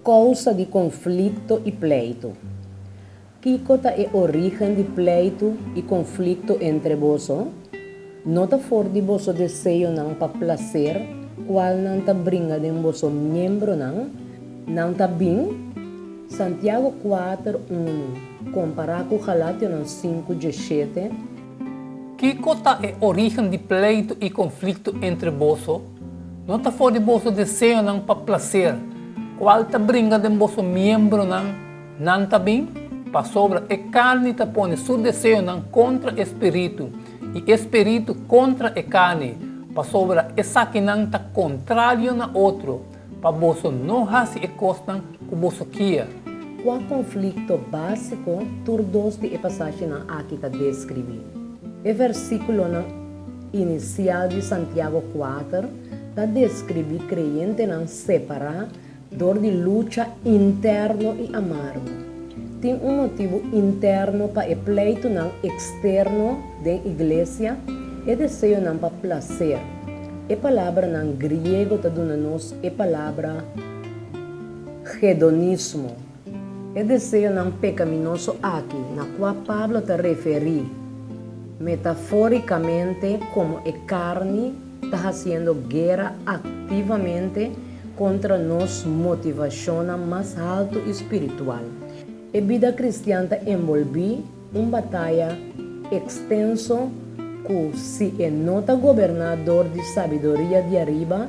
Kousa di konflikto i pleitu. Kiko ta e origen di pleitu i konflikto entre boso? No ta for di boso deseonan pa plaser kual nan ta bringa den boso miembronan? Nan ta bin, Santiago kuater unu, kompará ku Galationan sinku diesshete. Kiko ta e origen di pleitu i konflikto entre boso? No ta for di boso deseonan pa plaser, kual ta bringa den boso miembronan? Nan ta bin, pasobra e karni ta pone su deseonan kontra e spiritu, i e spiritu kontra e karni, pasobra esakinan ta kontrario na otro. Pa boso no hasi e kosnan ku boso kier. Kua konflikto básiko tur dos di e pasashenan aki ta deskribí? E versíkulonan inisial di Santiago kuater ta deskribí kreyentenan separá dor di lucha interno i amargu. Tin un motibu interno pa e pleitunan eksterno den iglesia, e deseonan pa plaser. E palabranan griego ta duna nos e palabra hedonismo. E deseonan pekaminoso aki na kua Pablo ta referí metafórikamente komo e karni ta hasiendo guera aktivamente kontra nos motivashonnan mas haltu i spiritual. E bida kristian ta enbolbí Un bataya ekstenso ku si e no ta goberná dor di sabiduria di ariba,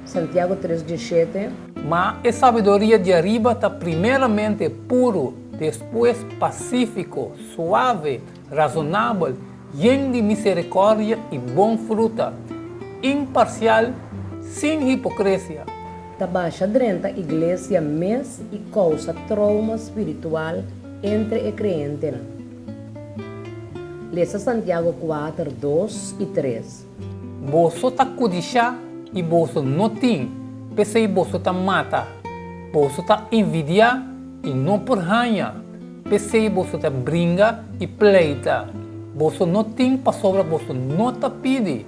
Santiago tres dieshete. Ma e sabiduria di ariba ta primeramente puru, despues pasífiko, suave, razonabel, yen di miserikòrdia i bon fruta, imparsial, sin hipokresia. Ta basha drenta iglesia mes i kousa trouma spiritual. entre e creentenan. Lesa Santiago kuater dos i tres. Boso ta kudishá i boso no tin, p'esei boso ta mata. Boso ta invidiá i no por haña, p'esei boso ta bringa i pleita. Boso no tin pasobra boso no ta pidi.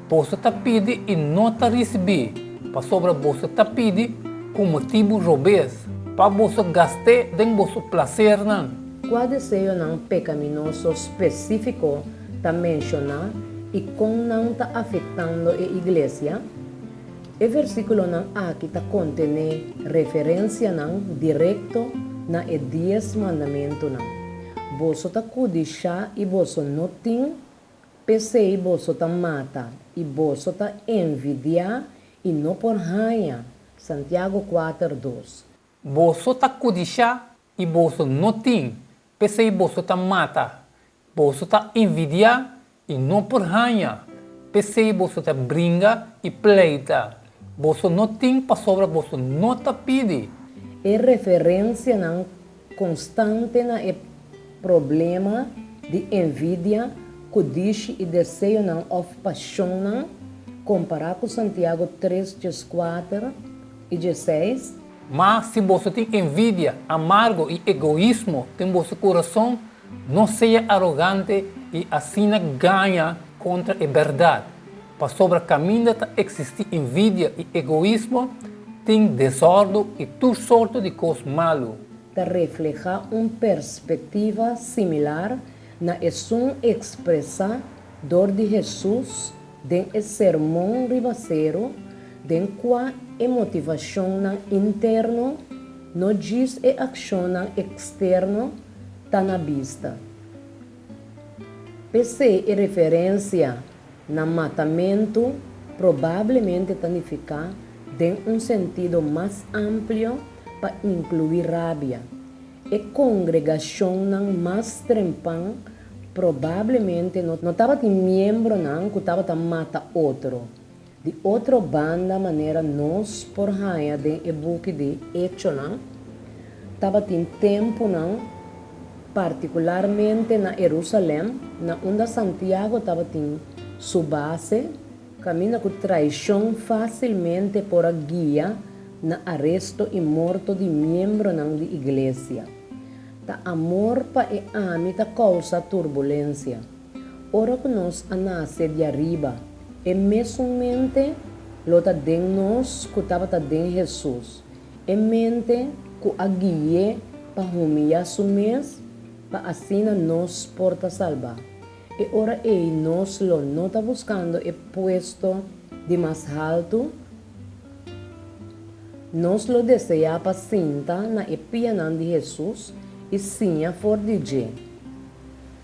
Boso ta pidi i no ta risibí, pasobra boso ta pidi ku motibu robes, pa boso gast'é den boso plasernan. Kua deseonan pekaminoso spesífiko ta menshoná i kon nan ta afektando e iglesia? E versíkulonan aki ta kontené referensianan direkto na e Dies Mandamentunan. Boso ta kudishá i boso no tin? P'esei boso ta mata i boso ta envidiá i no por haña. Santiago kuater dos. Boso ta kudishá i boso no tin, p'esei boso ta mata, boso ta envidiá i no por haña, p'esei boso ta bringa i pleita, Boso no tin pasobra boso no ta pidi. E referencianan constante na e problema di envidia, cudishi y deseonan of pasionnan, compara cu Santiago tres dje cuater y dje seis. Ma si boso tin envidia, amargo y egoismo den boso curazon, no sea arogante y asina gaña contra e berdad. Pasobra kaminda ta eksistí invidia i egoismo, tin desòrdu i tur sorto di kos malu. Ta reflehá un perspektiva similar na esun ekspresá dor di Hesus den e Sermon riba Seru den kua e motivashonnan interno, no djis e akshonnan eksterno, ta na bista. P'esei e referensia na matamentu probablemente ta nifiká den un sentido mas amplio pa inkluí rabia. E kongregashonnan mas trempan probablemente no tabatin miembronan ku tabata mata otro. Di otro banda manera nos por haña den e buki di Hechonan, tabatin tempunan, partikularmente na Herusalèm, na unda Santiago tabatin su base, kaminda ku traishon fásilmente por a guia na aresto i morto di miembronan di iglesia. Ta amor pa e ami ta kousa turbulensia. Ora cu nos a nace di ariba, e mesun mente lo ta den nos cu tabata den Jesus, e mente cu a gui'é pa humilla su mes pa asina nos por ta salba. E ora ei nos lo no ta buscando e puesto di mas haltu, nos lo desea pa sinta na e pianan di Jesus y siña for di dje.